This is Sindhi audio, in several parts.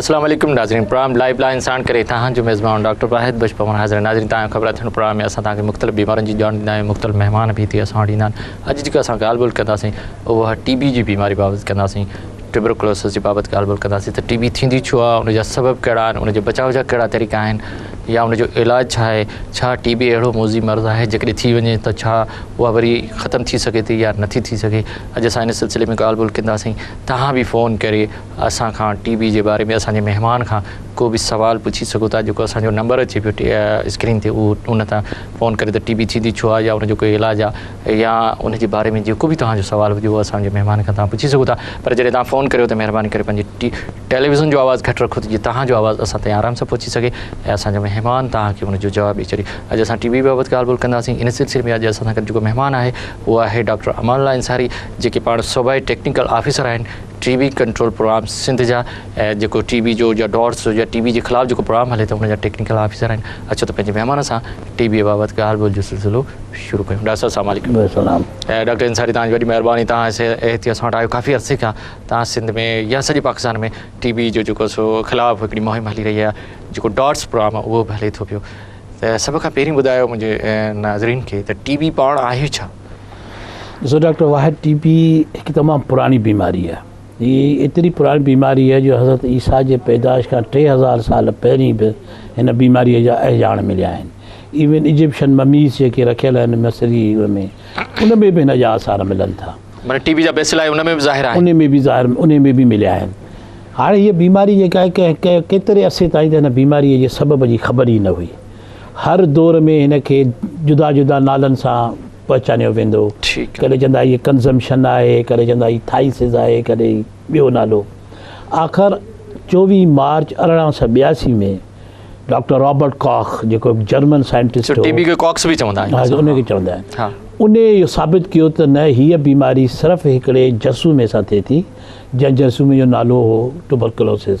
السلام عليڪم ناظرين پروگرام لائيو لائن ساڻ ڪري تهان جو ميزبان ڊاڪٽر واحد بش پون حاضر ناظرين تهان خبر اٿڻ پروگرام ۾ اسان تهان کي مختلف بيمارين جي ڄاڻ ڏيندا آهيون مختلف مهمان به هتي اسان وٽ ايندا آهن اڄ جيڪا اسان ڳالهه ٻولهه ڪنداسين اها ٽي بي جي بيماري بابت ڪنداسين ٽيبروڪلوسس جي بابت ڳالهه ٻولهه ڪنداسين ته ٽي بي ٿيندي ڇو آهي ان جا سبب ڪهڙا آهن ان جي بچاء جا ڪهڙا طريقا آهن يا ان جو علاج ڇا آهي ڇا ٽي بي اهڙو موضي مرض آهي جيڪڏهن ٿي وڃي ته ڇا اها وري ختم ٿي سگهي ٿي يا نٿي ٿي سگهي اڄ اسان ان سلسلي ۾ ڳالهه ٻولهه ڪنداسين تهان به فون ڪري اسان کان ٽي بي جي باري ۾ اسان جي مهمان کان ڪو به سوال پڇي سگهو ٿا جيڪو اسان جو نمبر اچي پيو اسڪرين تي اهو ان تان فون ڪري ته ٽي بي ٿيندي ڇو آهي يا ان جو ڪو علاج آهي يا ان جي باري ۾ جيڪو به توهان جو سوال هجي اهو اسان جي مهمان کان توهان پڇي سگهو ٿا پر جڏهن توهان فون ڪريو ته مهرباني ڪري پنهنجي ٽيليويزن جو آواز گهٽ رکو ته جيئن توهان جو آواز اسان تائين آرام سان پهچي سگهي ۽ اسان جو مهمان توهان کي ان جو جواب ڏئي ڇڏي اڄ اسان ٽي بي بابت ڳالهه ٻولهه ڪنداسين ان سلسلي ۾ اڄ اسان سان گڏ جيڪو مهمان آهي اهو آهي ڊاڪٽر امان الله انصاري جيڪي پاڻ صوبائي ٽيڪنيڪل آفيسر آهن T B control programme Sindh جا ۽ جيڪو ٽي بي جو يا ڊارس جو يا ٽي بي جي خلاف جيڪو پروگرام هلي ٿو ان جا ٽيڪنيڪل آفيسر آهن اچو ته پنهنجي مهمان سان ٽي بي بابت ڳالهه ٻولهه جو سلسلو شروع ڪيون ڊاڪٽر صاحب السلام عليڪم السلام ۽ ڊاڪٽر انصاري تان وڏي مهرباني تان اس احتي اسان وٽ آيو ڪافي عرصي کان تان سنڌ ۾ يا سڄي پاڪستان ۾ ٽي بي جو جيڪو سو خلاف هڪڙي مهم هلي رهي آهي جيڪو ڊارس پروگرام اهو به هلي ٿو پيو ته سڀ کان پهرين ٻڌايو منهنجي ناظرين کي ته ٽي بي پاڻ آهي ڇا ڏسو ڊاڪٽر واحد ٽي بي هڪ تمام پراڻي بيماري آهي هي ايتري پراڻي بيماري آهي جو حضرت عيسيٰ جي پيدائش کان ٽي هزار سال پهرين به هن بيماريء جا اهجاڻ مليا آهن ايون ايجپشن مميز جيڪي رکيل آهن مصري ۾ ان ۾ به هن جا آثار ملن ٿا معنی ٽي بي جا بيسلا ان ۾ به ظاهر آهن ان ۾ به ظاهر ان ۾ به مليا آهن هاڻي هيء بيماري جيڪا آهي ڪنهن ڪيتري عرصي تائين ته هن بيماريء جي سبب جي خبر ئي نه هئي هر دور ۾ هن کي جدا جدا نالن سان پهچانيو ويندو. ڪڏهن چوندا هي ڪنزمشن آهي، ڪڏهن چوندا هي ٿائيسز آهي، ڪڏهن ٻيو نالو. آخر چوويهه مارچ ارڙهن سؤ ٻياسي ۾ ڊاڪٽر رابرٽ ڪاخ جيڪو هڪ جرمن سائنٽسٽ هو، ان کي چوندا آهن، ان اهو ثابت ڪيو ته نه هيء بيماري صرف هڪڙي جرثومي سان ٿئي ٿي، جنهن جرثومي جو نالو هو ٽوبرڪلوسز،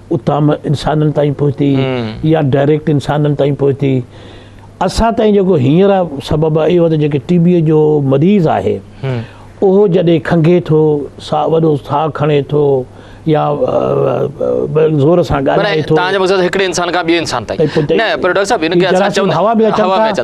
اتان م انسانن تائين پهتي يا ڊائريڪٽ انسانن تائين پهتي اسان تائين جيڪو هينئر سبب آهي اهو ته جيڪي ٽي بي جو مريض آهي اهو جڏهن کنگهي ٿو سا وڏو ساهه کڻي ٿو يا زور سان ڳالهائي ٿو تنهنجو مقصد هڪڙي انسان کان ٻئي انسان تائين نه پر ڊاڪٽر صاحب هن کي اسان چون هوا ۾ اچن ٿا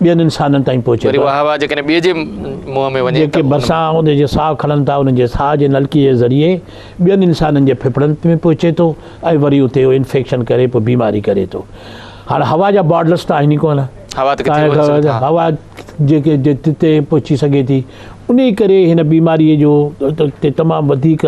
ٻين انسانن تائين پهچي ٿو. اها هوا جيڪڏهن ٻئي جي منهن ۾ وڃي ته. جيڪي ڀرسان اوندهه جي ساهه کڻن ٿا، انهن جي ساهه جي نلڪي جي ذريعي ٻين انسانن جي ڦڦڙن ۾ پهچي ٿو ۽ وري اتي اهو انفيڪشن ڪري پوء بيماري ڪري ٿو. هاڻ هوا جا بارڊرس ته آهن ئي ڪونه. هوا ته ڪٿي وڃي سگهي ٿو. هوا جيڪي جتي پهچي سگهي ٿي. انهي ڪري هن بيماري جو تي تمام وڌيڪ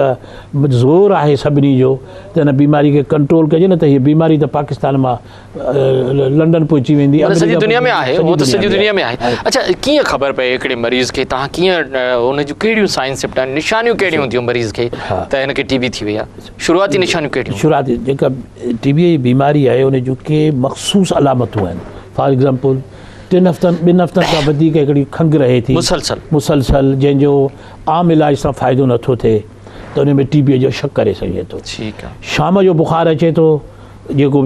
زور آهي سڀني جو ته هن بيماري کي ڪنٽرول ڪجي نه ته هي بيماري ته پاڪستان مان لنڊن پهچي ويندي مطلب سڄي دنيا ۾ آهي هو ته سڄي دنيا ۾ آهي اچھا ڪيئن خبر پئي هڪڙي مريض کي تان ڪيئن ان جون ڪهڙيون سائن سپٽان نشانيون ڪهڙيون هونديون مريض کي ته هن کي ٽي بي ٿي وئي آهي شروعاتي نشانيون ڪهڙيون شروعاتي جيڪا ٽي بي جي بيماري آهي ان جون ڪي مخصوص علامتون آهن فار ايگزامپل ٽن هفتن ٻن هفتن کان وڌيڪ هڪڙي کنگ رهي ٿي مسلسل مسلسل جنهن جو عام علاج سان فائدو نٿو ٿئي ته ان ۾ ٽي بي جو شڪ ڪري سگهجي ٿو شام جو بخار اچي ٿو جيڪو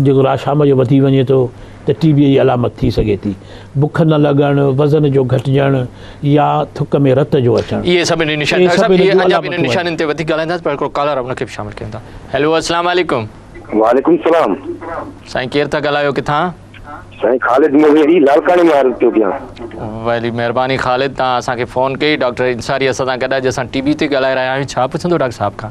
جيڪو رات شام جو وڌي وڃي ٿو ته ٽي بيء جي علامت ٿي سگهي ٿي. بک نه لڳڻ، وزن جو گهٽجڻ يا ٿڪ ۾ رت جو اچڻ. اهي سڀ انهن نشانين ڊاڪٽر صاحب اهي اڃا به انهن نشانين تي وڌيڪ ڳالهائينداسين پر هڪڙو ڪالر آهي ان کي به شامل ڪيون ٿا. هيلو السلام عليڪم. وعليڪم السلام. سائين ڪير ٿا ڳالهايو ڪٿان؟ سائين خالد موهيري لاڙڪاڻي مان عرض پيو ڪيان. وڏي مهرباني خالد تان اسان کي فون ڪئي ڊاڪٽر انصاري اسان سان گڏ آهي جنهن سان ٽي بي تي ڳالهائي رهيا آهيون ڇا پڇندو ڊاڪٽر صاحب کان.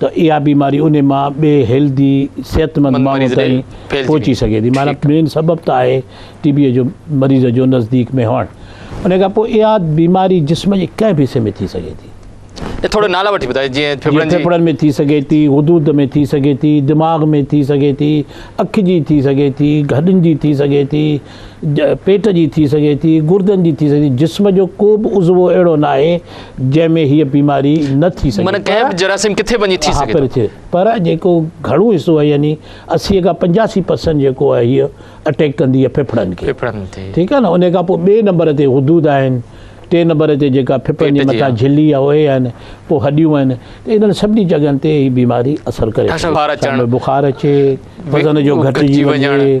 ته اها بيماري انهي مان ٻئي هيلڌي صحتمند ماڻهو تائين پهچي سگهي ٿي معنيٰ مين سبب ته آهي ٽي بي جو مريض جو نزديڪ ۾ هئڻ انهي کان پوء اها بيماري جسم جي ڪنهن به حصي ۾ ٿي سگهي ٿي جيئن ڦڦڙن ۾ ٿي سگهي ٿي غدود ۾ ٿي سگهي ٿي دماغ ۾ ٿي سگهي ٿي اک جي ٿي سگهي ٿي هڏن جي ٿي سگهي ٿي. پيٽ جي ٿي سگهي ٿي، گردن جي ٿي سگهي ٿي، جسم جو ڪو به عضوو اهڙو ناهي جنهن ۾ هيء بيماري نه ٿي سگهي. معنيٰ ڪنهن به جراثيم ڪٿي وڃي ٿي سگهي ٿو. پر جيڪو گهڻو حصو آهي يعني اسيء کان پنجاسي پرسنٽ جيڪو آهي هيء اٽيڪ ڪندي آهي ڦڦڙن کي. ڦڦڙن تي. ٺيڪ آهي نه انهيء کان پوء ٻئي نمبر تي غدود آهن، ٽئين نمبر تي جيڪا ڦڦڙن جي مٿان جھلي يا اهي آهن، پوء هڏيون آهن ته انهن سڀني جڳهن تي هيء بيماري اثر ڪري ٿي. بخار اچي، وزن جو گهٽجي وڃي.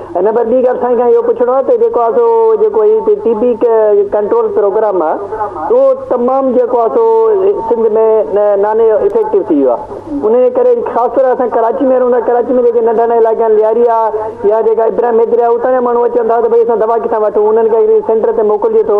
هن بعد ٻي ڳالهه سائين کان اهو پڇڻو آهي ته جيڪو آهي سو جيڪو هي ٽي بي ڪنٽرول پروگرام آهي اهو تمام جيڪو آهي سو سنڌ ۾ نان افيڪٽو ٿي ويو آهي ان جي ڪري خاص طور اسان ڪراچي ۾ رهون ٿا ڪراچي ۾ جيڪي ننڍا ننڍا علائقا آهن لياري آهي يا جيڪا ابراهيم حيدري آهي اتان جا ماڻهو اچن ٿا ته ڀئي اسان دوا ڪٿان وٺون انهن کي سينٽر تي موڪلجي ٿو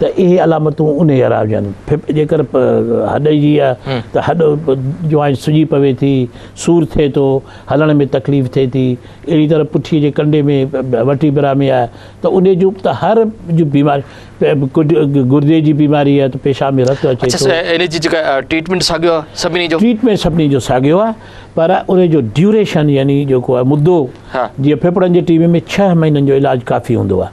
ته اهي علامتون انهي يارا هجن. ڦڦ جيڪر هڏ جي آهي ته هڏ جوائنٽ سڄي پوي ٿي، سور ٿئي ٿو، هلڻ ۾ تڪليف ٿئي ٿي. اهڙي طرح پٺيء جي ڪنڊي ۾ وٽي برا ۾ آهي ته انهي جون ته هر جون بيماريون گردي جي بيماري آهي ته پيشاب ۾ رت اچي ٿو. اڇا انهي جي جيڪا ٽريٽمينٽ ساڳيو آهي سڀني جو؟ ٽريٽمينٽ سڀني جو ساڳيو آهي پر انهي جو ڊيوريشن يعني جيڪو آهي مدو جيئن ڦڦڙن جي ٽي بي ۾ ڇهه مهينن جو علاج ڪافي هوندو آهي.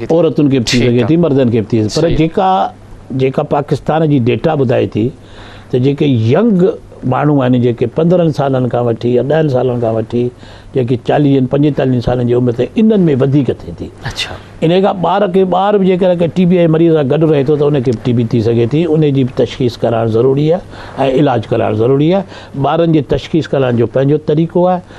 عورتن کي به ٿي سگهي ٿي مردن کي به ٿي پر جيڪا جيڪا پاڪستان جي ڊيٽا ٻڌائي ٿي ته جيڪي ينگ ماڻهو آهن جيڪي پندرهن سالن کان وٺي يا ڏهن سالن کان وٺي جيڪي چاليهن پنجيتاليهن سالن جي عمر تائين انهن ۾ وڌيڪ ٿئي ٿي ان کان ٻار کي ٻار به جيڪڏهن ڪنهن ٽي بي جي مريض سان گڏ رهي ٿو ته ان کي به ٽي بي ٿي سگهي ٿي ان جي به تشخيص ڪرائڻ ضروري آهي ۽ علاج ڪرائڻ ضروري آهي ٻارن جي تشخيص ڪرائڻ جو پنهنجو طريقو آهي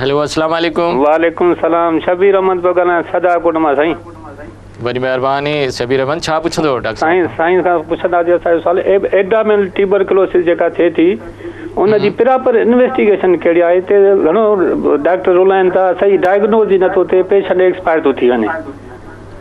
هيلو اسلام عليڪم. وعليڪم السلام شبير احمد پيو ڳالهايان سدا ڪوٽ مان سائين. وڏي مهرباني شبير احمد ڇا پڇندو ڊاڪٽر صاحب کان. سائين کان پڇنداسي اسان جو سوال ايبڊامينل ٽيوبرڪلوسس جيڪا ٿئي ٿي ان جي پراپر انويسٽيگيشن ڪهڙي آهي تي گهڻو ڊاڪٽر رولائن ٿا صحيح ڊائگنوز ئي نٿو ٿئي پيشنٽ ايڪسپائر ٿو ٿي وڃي.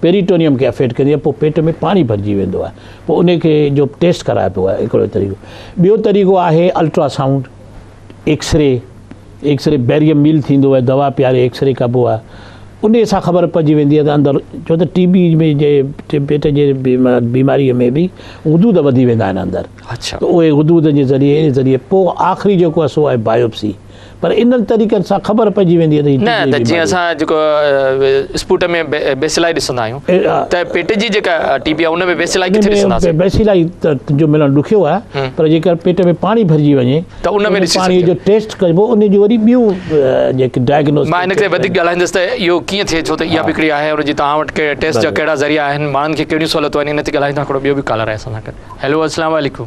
پيريٽونيم کي افيڪٽ ڪندي آهي پوء پيٽ ۾ پاڻي ڀرجي ويندو آهي پوء ان کي جو ٽيسٽ ڪرائي پيو آهي هڪڙو طريقو ٻيو طريقو آهي ultrasound X ray X ray barium meal ٿيندو آهي دوا پياري ايڪس ري ڪبو آهي ان سان خبر پئجي ويندي آهي ته اندر ڇو ته ٽي بي ۾ جي پيٽ جي بيماري ۾ به حدود وڌي ويندا آهن اندر اهي حدود جي ذريعي ذريعي پوء آخري جيڪو آهي سو آهي بايوپسي پر انهن طريقن سان خبر پئجي ويندي ته هي نه ته جيئن اسان جيڪو اسپوٽم ۾ بيسيلائي ڏسندا آهيون ته پيٽ جي جيڪا ٽي بي آهي ان ۾ بيسيلائي ڪٿي ڏسنداسين بيسيلائي جو ملڻ ڏکيو آهي پر جيڪر پيٽ ۾ پاڻي ڀرجي وڃي ته ان ۾ پاڻي جو ٽيسٽ ڪجبو ان جون وري ٻيون جيڪي ڊائگنوز مان ان کي وڌيڪ ڳالهائيندس ته اهو ڪيئن ٿئي ٿو ته اها به هڪڙي آهي ان جي توهان وٽ ڪهڙا ٽيسٽ جا ڪهڙا ذريعا آهن ماڻهن کي ڪهڙيون سهولتون آهن ان تي ڳالهائيندو هڪڙو ٻيو به ڪالر آهي اسان سان گڏ هيلو السلام عليڪم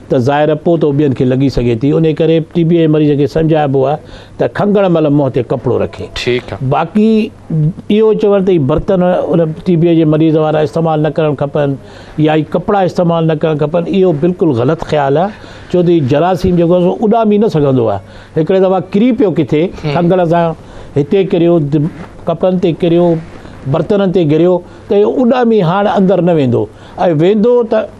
ته ظاهر پوء ته ٻين کي لڳي سگهي ٿي انهي ڪري ٽي بي جي مريض کي سمجهائبو آهي ته کنگهڻ مهل منهن تي ڪپڙو رکي باقي اهو چوڻ ته هي برتن ان ٽي بي جي مريض وارا استعمال نه ڪرڻ کپن يا هي ڪپڙا استعمال نه ڪرڻ کپن اهو بلڪل غلط خيال آهي ڇو ته هي جراثيم جيڪو آهي سو اڏامي نه سگهندو آهي هڪڙي دفعا ڪري پيو ڪٿي کنگهڻ سان هتي ڪريو ڪپڙن تي ڪريو برتنن تي ڪريو ته اڏامي هاڻ اندر نه ويندو ۽ ويندو ته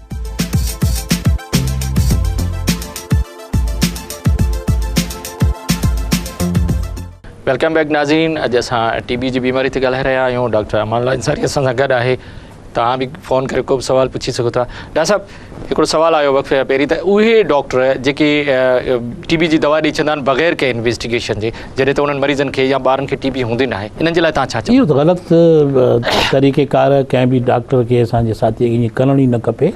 ويلڪم بيڪ ناظرين اڄ اسان ٽي بي جي بيماري تي ڳالهائي رهيا آهيون ڊاڪٽر امان الله انصاري اسان سان گڏ آهي توهان به فون ڪري کو به سوال پڇي سگهو ٿا ڊاڪٽر صاحب هڪڙو سوال آيو وقفي کان پهرين ته اهي ڊاڪٽر جيڪي ٽي بي جي دوا ڏيئي ڇڏندا آهن بغير ڪنهن انويسٽيگيشن جي جڏهن ته انهن مريضن کي يا ٻارن کي ٽي بي هوندي ناهي انهن جي لاء توهان ڇا چوندا؟ اهو ته غلط طريقه ڪار ڪنهن به ڊاڪٽر کي اسان جي ساٿي کي ائين ڪرڻ ئي نه کپي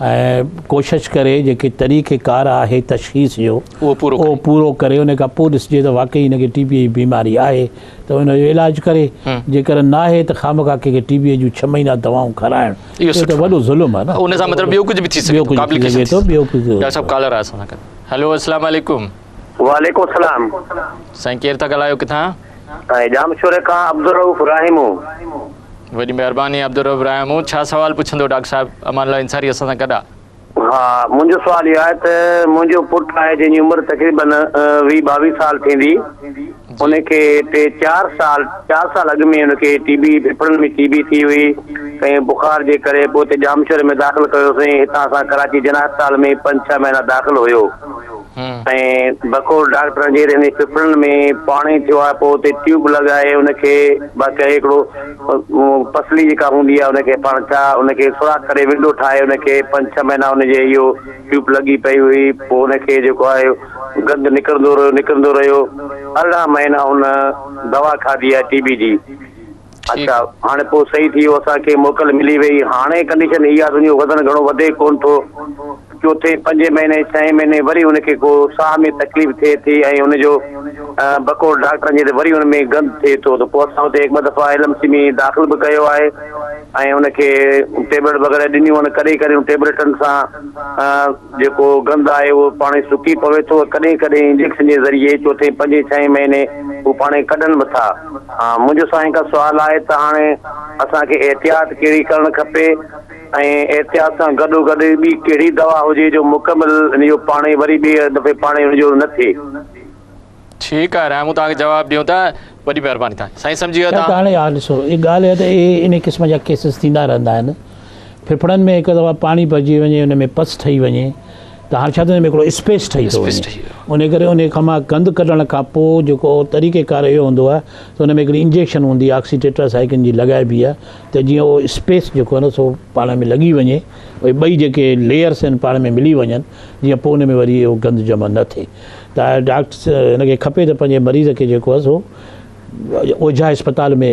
۽ ڪوشش ڪري جيڪي طريقه ڪار آهي تشخيص جو اهو پورو ڪري ان کان پوء ڏسجي ته واقعي هن کي ٽي بي جي بيماري آهي ته ان جو علاج ڪري جيڪڏهن ناهي ته خامخا ڪنهن کي ٽي بي جون ڇهه مهينا دوائون کارائڻ اهو ته وڏو ظلم آهي نه ان سان مطلب ٻيو ڪجهه به ٿي سگهي ٿو ٻيو ڪجهه به ٿي سگهي ٿو ڊاڪٽر صاحب ڪالر آهي اسان سان گڏ هلو السلام عليڪم وعليڪم السلام. سائين ڪير ٿا ڳالهايو ڪٿان؟ سائين ڄامشوري کان عبدالرؤف راهيمو. وڏي مهرباني عبدالرؤف راهيمو ڇا سوال پڇندو ڊاڪٽر صاحب امان الله انصاري اسان سان گڏ آ. ها منهنجو سوال اهو آهي ته منهنجو پٽ آهي جنهن جي عمر تقريبن ويهه ٻاويهه سال ٿيندي ان کي ٽي چار سال چار سال اڳ ۾ ان کي ٽي بي ڦيڦڙن ۾ ٽي بي ٿي هئي ۽ بخار جي ڪري پوء هتي ڄامشوري ۾ داخل ڪيوسين هتان اسان ڪراچي جناح اسپتال ۾ پنج ڇهه مهينا داخل هيو ۽ بقول ڊاڪٽر اڳهي رهندي ڦڦڙن ۾ پاڻي ٿيو آهي پوء اتي ٽيوب لڳائي ان کي باقي هڪڙو پسلي جيڪا هوندي آهي ان کي پاڻ ڇا ان کي سوراخ ڪري ونڊو ٺاهي ان کي پنج ڇهه مهينا ان جي اهو ٽيوب لڳي پئي هئي پوء ان کي جيڪو آهي گند نڪرندو رهيو نڪرندو رهيو ارڙهن مهينا ان دوا کاڌي آهي ٽي بي جي. اڇا هاڻي پوء صحيح ٿي ويو اسان کي موڪل ملي وئي هاڻي ڪنڊيشن هي آ تنهنجو وزن گهڻو وڌي ڪون ٿو چوٿين پنجين مهيني ڇهين مهيني وري ان کي ڪو ساهه ۾ تڪليف ٿئي ٿي ۽ ان جو بقول ڊاڪٽرن جي ته وري ان ۾ گند ٿئي ٿو ته پوء اسان اتي هڪ ٻه دفعا ايل ايم سي ۾ داخل به ڪيو آهي ۽ ان کي ٽيبليٽ وغيره ڏنيون آهن ڪڏهن ڪڏهن ان ٽيبليٽن سان جيڪو گند آهي اهو پاڻ سڪي پوي ٿو ڪڏهن ڪڏهن انجيڪشن جي ذريعي چوٿين پنجين ڇهين مهيني هو پاڻ ڪڍن به ٿا منهنجو سائين هڪ سوال آهي ته هاڻي اسان کي احتياط ڪهڙي ڪرڻ کپي ۽ احتياط سان گڏو گڏ ٻي ڪهڙي دوا هجي جو مڪمل ان جو پاڻي وري ٻي دفعي پاڻي ان جو نه ٿئي. ٺيڪ آهي رحه مون توهان کي جواب ڏيون ٿا وڏي مهرباني توهان جي سائين سمجهي ويو ته هاڻي ها ڏسو هي ڳالهه هي ته اهي ان قسم جا ڪيسز ٿيندا رهندا آهن. ڦڦڙن ۾ هڪ دفعا پاڻي ڀرجي وڃي ان ۾ پس ٺهي وڃي ته هاڻ ڇا ٿيندو ۾ هڪڙو اسپيس ٺهي ٿو وڃي ان ڪري ان کان مان گند ڪڍڻ کان پوء جيڪو طريقه ڪار اهو هوندو آهي ته ان ۾ هڪڙي انجيڪشن هوندي آهي آڪسي ٽيٽرا سائيڪن جي لڳائبي آهي ته جيئن اهو اسپيس جيڪو آهي نه سو پاڻ ۾ لڳي وڃي اهي ٻئي جيڪي ليئرس آهن پاڻ ۾ ملي وڃن جيئن پوء ان ۾ وري اهو گند جمع نه ٿئي ته ڊاڪٽر ان کي کپي ته پنهنجي مريض کي جيڪو آهي سو اوجها اسپتال ۾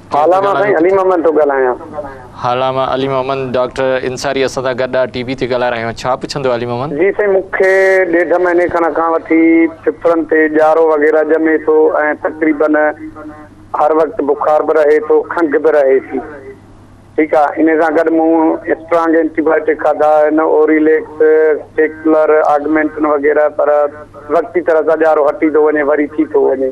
هالا مان سائين علي محمد ٿو ڳالهايان. هالا مان علي محمد ڊاڪٽر انصاري اسان سان گڏ آ ٽي وي تي ڳالهائي رهيا آهيون ڇا پڇندو علي محمد. جي سائين مون کي ڏيڍ مهيني کڻ کان وٺي ڦڦڙن تي ڄارو وغيره ڄمي ٿو ۽ تقريبن هر وقت بخار به رهي ٿو کنگهه به رهي ٿي ٺيڪ آ انهي سان گڏ مون اسٽرانگ اينٽي بائيوٽڪ کاڌا آهن اوريليڪس ٽيڪلر آگمينٽن وغيره پر وقتي طرح سان ڄارو هٽي ٿو وڃي وري ٿي ٿو وڃي.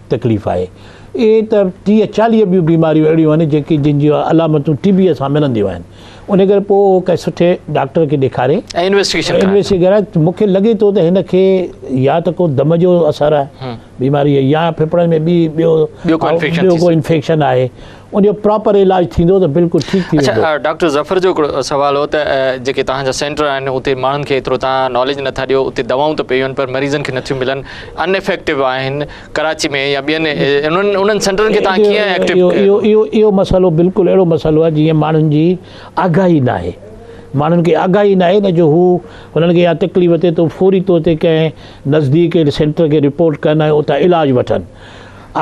تڪليف آهي. ائين ته ٽيهه چاليهه ٻيون بيماريون اهڙيون آهن جيڪي جن جون علامتون ٽي بيء سان ملنديون آهن. انهيء ڪري پوء اهو ڪنهن سٺي ڊاڪٽر کي ڏيکاري. ۽ انويسٽيگيشن ڪرائي. مون کي لڳي ٿو ته هن کي يا ته ڪو دم جو اثر آهي بيماريء يا ڦڦڙن ۾ ٻي ٻيو ٻيو ڪو انفيڪشن آهي. ان جو پراپر علاج ٿيندو ته بلڪل ٺيڪ ٿي ويندو. اچھا ڊاڪٽر ظفر جو ھڪڙو سوال ھو ته جيڪي توھان جا سينٽر آھن اتي ماڻھن کي ايترو توھان ناليج نٿا ڏيو اتي دوائون ته پيون پر مريضن کي نٿيون ملن ان افيڪٽو آھن ڪراچي ۾ يا ٻين انھن انھن سينٽرن کي توھان ڪيئن ايڪٽو ڪيو اھو اھو مسئلو بلڪل اھڙو مسئلو آھي جيئن ماڻھن جي آگاھي ناھي ماڻھن کي آگاھي ناھي نه جو ھو انھن کي يا تڪليف ٿئي ته فوري طور تي ڪنھن نزديڪ سينٽر کي رپورٽ ڪن ۽ اتان علاج وٺن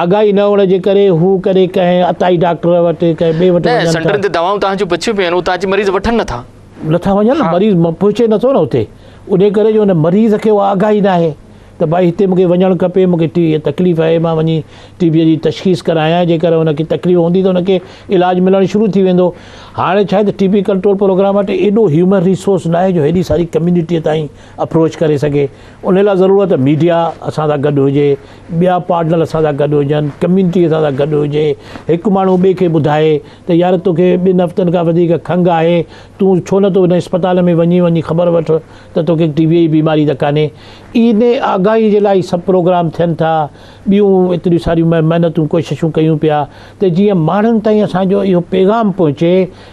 آگاهي نه هئڻ جي ڪري هو ڪڏهن ڪنهن عطائي ڊاڪٽر وٽ ڪنهن ٻئي وٽ وڃن ٿا. نه سينٽرن تي دوائون تهان جون بچيون پيون آهن اتان اچي مريض وٺن نه ٿا. نه ٿا وڃن نه مريض پهچي نه ٿو نه اتي انهي ڪري جو ان مريض کي اها آگاهي نه آهي ته ڀائي هتي مونکي وڃڻ کپي مونکي ٽي بي تڪليف آهي مان وڃي ٽي بي جي تشخيص ڪرايان جيڪر ان کي تڪليف هوندي ته ان کي علاج ملڻ شروع ٿي ويندو هاڻي ڇا آهي ته ٽي بي ڪنٽرول پروگرام وٽ ايڏو هيومن ريسورس نه آهي جو هيڏي ساري ڪميونٽي تائين اپروچ ڪري سگهي انهي لاء ضرورت ميڊيا اسان سان گڏ هجي ٻيا پارٽنر اسان سان گڏ هجن، ڪميونٽي اسان سان گڏ هجي، هڪ ماڻهو ٻئي کي ٻڌائي ته يار توکي ٻن هفتن کان وڌيڪ کنگهه آهي، تون ڇو نه ٿو هن اسپتال ۾ وڃي وڃي خبر وٺ ته توکي ٽي بيء جي بيماري ته ڪانهي. انهي آگاهي جي لاء هي سڀ پروگرام ٿين ٿا، ٻيون ايتريون ساريون محنتون ڪوششون ڪيون پيا ته جيئن ماڻهن تائين اسان جو اهو پيغام پهچي.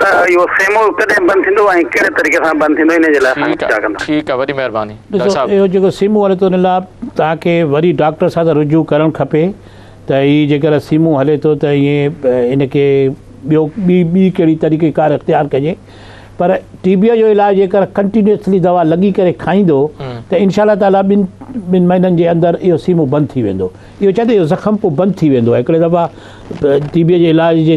ته اهو سيمو ڪڏهن بند ٿيندو ۽ ڪهڙي طريقي سان بند ٿيندو انهي جي لاء اسان کي ٺيڪ آ ڪندا. ٺيڪ آ وڏي مهرباني ڏاڪٽر ڏسو صاحب. اهو جيڪو سيمو هلي ٿو ان لاء توهان کي وري ڊاڪٽر سان ته رجوع ڪرڻ کپي ته هي جيڪر سيمو هلي ٿو ته اهي ان کي ٻيو ٻي ٻي ڪهڙي طريقي ڪار اختيار ڪجي پر ٽي بيء جو علاج جيڪر ڪنٽينيوسلي دوا لڳي ڪري کائيندو ته انشاء الله تعالي ٻن ٻن مهينن جي اندر اهو سيمو بند ٿي ويندو اهو چئه ته اهو زخم پوء بند ٿي ويندو آهي هڪڙي دفعا ٽي بيء جي علاج جي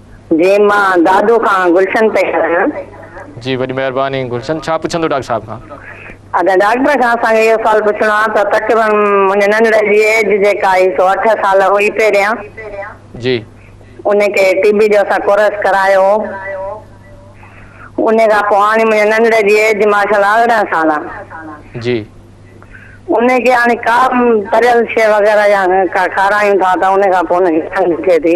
جي مان دادو کان گلشن پئي ڳالهايان. جي وڏي مهرباني گلشن ڇا پڇندو ڊاڪٽر صاحب کان. ادا ڊاڪٽر کان اسان کي اهو سوال پڇڻو آ ته تقريبن منهنجي ننڙ جي ايج جيڪا هئي سو اٺ سال هئي پهريان جي انهي کي ٽي بي جو اسان ڪورس ڪرايو هو انهي کان پو هاڻي منهنجي ننڙ جي ايج ماشا الله ارڙهن سال آ جي انهي کي هاڻي ڪا به تريل شي وغيره يا ڪا کارايون ٿا ته انهي کان پو انهي کي کنگهه ٿئي ٿي.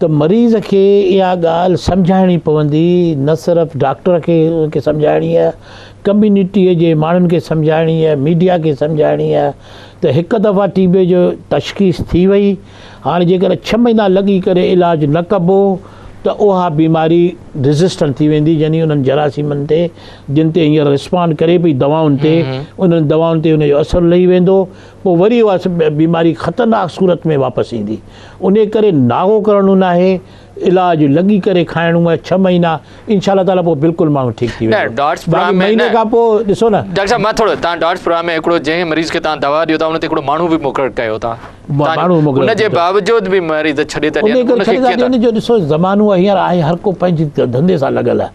ته مريض کي اها ڳالهه سمجهائڻي پوندي نه صرف ڊاڪٽر کي سمجهائڻي ڪميونٽي جي ماڻهن کي سمجهائڻي ميڊيا کي سمجهائڻي ته هڪ دفعا ٽي بي جو تشخيص ٿي وئي هاڻي جيڪڏهن ڇهه مهينا لڳي ڪري علاج نه ڪبو ته اها بيماري ريزسٽنٽ ٿي ويندي يعني انهن جراثيمن تي جن تي هينئر رسپانڊ ڪري پئي دوائن تي انهن دوائن تي ان جو اثر لهي ويندو پوء وري اها بيماري خطرناڪ صورت ۾ واپس ايندي. انهيء ڪري ناغو ڪرڻو ناهي، علاج لڳي ڪري کائڻو آهي ڇهه مهينا، انشاء الله تعاليٰ پوء بلڪل ماڻهو ٺيڪ ٿي ويندو. باقي مهيني کان پوء ڏسو نه. ڊاڪٽر صاحب مان ٿورو، توهان ڊاٽس پروگرام ۾ هڪڙو جنهن مريض کي توهان دوا ڏيو ٿا ان تي هڪڙو ماڻهو به مقرر ڪيو ٿا. ان جي باوجود به مريض ڇڏي ٿا ڏين. ان کي ڪيئن ٿا. ان جو ڏسو زمانو هينئر آهي هر ڪو پنهنجي ڌنڌي سان لڳل آهي.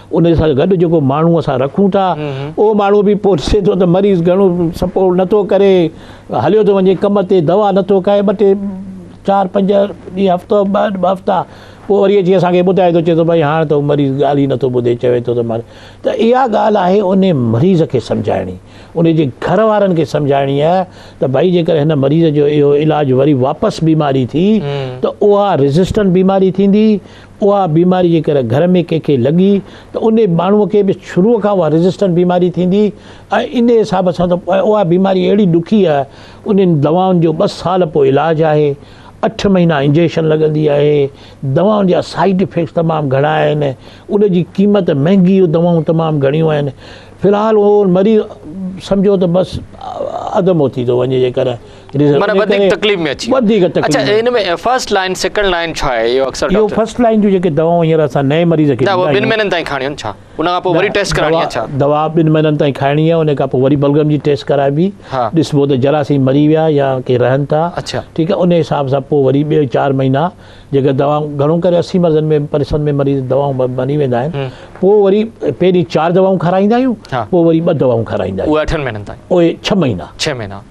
ان سان گڏ جيڪو ماڻهو اسان رکون ٿا اهو ماڻهو به پوء ڏسي ٿو ته مريض گهڻو سپورٽ نٿو ڪري هليو ٿو وڃي ڪم تي دوا نٿو کائي ٻه ٽي چار پنج ڏينهن هفتو ٻه ٻه هفتا پوء وري اچي اسان کي ٻڌائي ٿو چئي ٿو ڀائي هاڻ ته مريض ڳالهه ئي نٿو ٻڌي چوي ٿو ته مر ته اها ڳالهه آهي ان مريض کي سمجهائڻي ان جي گهر وارن کي سمجهائڻي آهي ته ڀائي جيڪر هن مريض جو اهو علاج وري واپس بيماري ٿي ته اها ريزسٽنٽ بيماري ٿيندي اها بيماري جيڪر گهر ۾ ڪنهن کي لڳي ته انهي ماڻهوء کي به شروع کان اها ريزسٽنٽ بيماري ٿيندي ۽ انهي حساب سان ته اها بيماري اهڙي ڏکي آهي انهن دوائن جو ٻه سال پوء علاج آهي اٺ مهينا انجيڪشن لڳندي آهي دوائن جا سائيڊ افيڪٽس تمام گهڻا آهن ان جي قيمت مهنگي اهي دوائون تمام گهڻيون آهن في الحال اهو مريض سمجهو ته بس اڌ موت ٿي ٿو وڃي جيڪر معنيٰ وڌيڪ تڪليف ۾ اچي ويو اڇا ان ۾ فرسٽ لائين سيڪنڊ لائين ڇا آهي اهو اڪثر ڊاڪٽر اهو فرسٽ لائين جون جيڪي دواؤن هينئر اسان نئين مريض کي ڏيندا آهيون نه ٻن مهينن تائين کاڻيون ڇا ان کان پوء وري ٽيسٽ ڪراڻي آهي ڇا دوا ٻن مهينن تائين کائڻي آهي ان کان پوء وري بلغم جي ٽيسٽ ڪرائبي ڏسبو ته جراثيم مري ويا يا ڪي رهن ٿا ٺيڪ آهي ان حساب سان پوء وري ٻيو چار مهينا جيڪي دواؤن گهڻو ڪري اسي مرضن ۾ پرسن ۾ مريض دواؤن ماري ويندا آهن پوء وري پهرين چار دواؤن کارائيندا آهيون پوء وري ٻه دواؤن کارائيندا آهيون اهي اٺن مهينن تائين اهي ڇهه مهينا ڇهه مهينا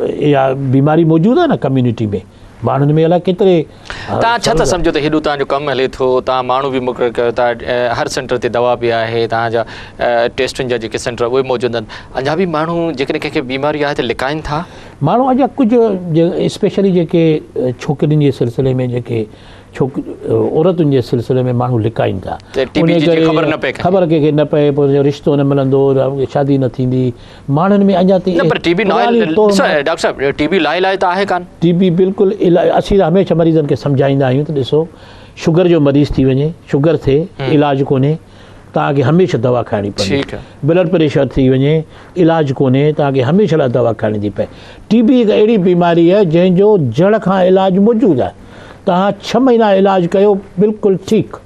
اها بيماري موجود آهي نه ڪميونٽي ۾ ماڻهن ۾ الاء ڪيتري تان ڇا ٿا سمجهو ته هيڏو تان جو ڪم هلي ٿو تان ماڻهو به مقرر ڪيو ٿا هر سينٽر تي دوا به آهي تان جا ٽيسٽن جا جيڪي سينٽر اهي موجود آهن اڃا به ماڻهو جيڪڏهن ڪنهن کي بيماري آهي ته لڪائين ٿا ماڻهو اڃا ڪجهه اسپيشلي جيڪي ڇوڪرين جي سلسلي ۾ جيڪي ڇوڪ عورتن جي سلسلي ۾ ماڻهو لڪائين ٿا خبر ڪنهن کي نه پئي پوء رشتو نه ملندو شادي نه ٿيندي ماڻهن ۾ اڃا تائين اهي پراڻيون توهمات. ڊاڪٽر صاحب ٽي بي لاء علاج ته آهي ڪانه. ٽي بي بلڪل علاج اسين هميشه مريضن کي سمجهائيندا آهيون ته ڏسو شگر جو مريض ٿي وڃي شگر ٿي علاج ڪونهي توهان کي هميشه دوا کائڻي پوندي بلڊ پريشر ٿي وڃي علاج ڪونهي توهان کي هميشه لاء دوا کائڻي ٿي پئي ٽي بي هڪ اهڙي بيماري آهي جنهن جو جڙ کان علاج موجود آهي توهان ڇهه مهينا علاج ڪيو بلڪل ٺيڪ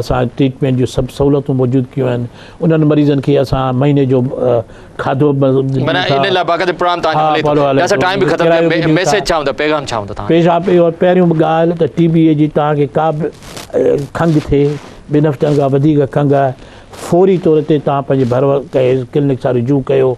اسان ٽريٽمينٽ جون سڀ سهولتون موجود ڪيون آهن انهن مريضن کي اسان مهيني جو کاڌو پيشاب اهو پهريون ڳالهه ته ٽي بي جي توهان کي ڪا به کنگهه ٿئي ٻن هفتن کان وڌيڪ کنگهه آهي فوري طور تي توهان پنهنجي ڀر ڪنهن ڪلنڪ سان رجوع ڪيو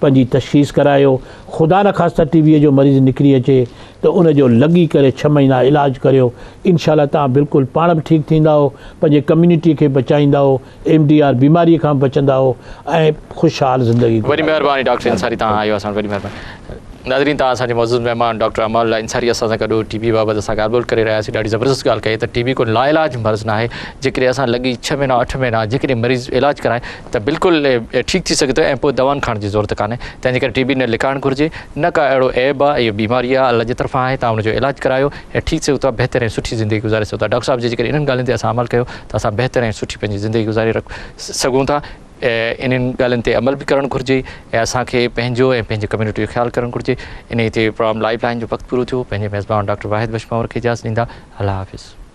پنهنجي تشخيص ڪرايو خدا نخواسته ٽي بي جو مريض نڪري اچي ته ان جو لڳي ڪري ڇهه مهينا علاج ڪريو انشاء الله توهان بلڪل پاڻ به ٺيڪ ٿيندائو پنهنجي ڪميونٽي کي بچائيندائو ايم ڊي آر بيماري کان به بچندائو ۽ خوشحال زندگي گذاريندائو. وڏي مهرباني ڊاڪٽر انصاري تهان آيو اسان وٽ وڏي مهرباني ناظرين تهان اسان جي معزز مهمان ڊاڪٽر امان الله انصاري اسان سان گڏ هو ٽي بي بابت اسان ڳالهه ٻولهه ڪري رهيا هئاسين ڏاڍي زبردست ڳالهه ڪئي ته ٽي بي ڪو لاعلاج مرض ناهي جيڪڏهن اسان لڳي ڇهه مهينا اٺ مهينا جيڪڏهن مريض علاج ڪرائي ته بلڪل ٺيڪ ٿي سگهي ٿو ۽ پوء دوائن کائڻ جي ضرورت ڪانهي تنهنجي ڪري ٽي بي نه لڪائڻ گهرجي نه ڪا اهڙو عيب آهي اهو بيماري آهي الله جي طرفان آهي تان ان جو علاج ڪرايو ۽ ٺيڪ سگهو ٿا بهتر ۽ سٺي زندگي گذاري سگهو ٿا ڊاڪٽر صاحب جي جيڪڏهن انهن ڳالهين تي اسان عمل ڪيو ته اسان بهتر ۽ سٺي پنهنجي زندگي گذاري سگهون ٿا انهن ڳالهين تي عمل به ڪرڻ گهرجي ۽ اسان کي پنهنجو ۽ پنهنجي ڪميونٽي جو خيال ڪرڻ گهرجي انهي تي پروگرام لائيف لائين جو وقت پورو ٿيو پنهنجي ميزبان ڊاڪٽر واحد بخش ماور کي اجازت ڏيندا الله حافظ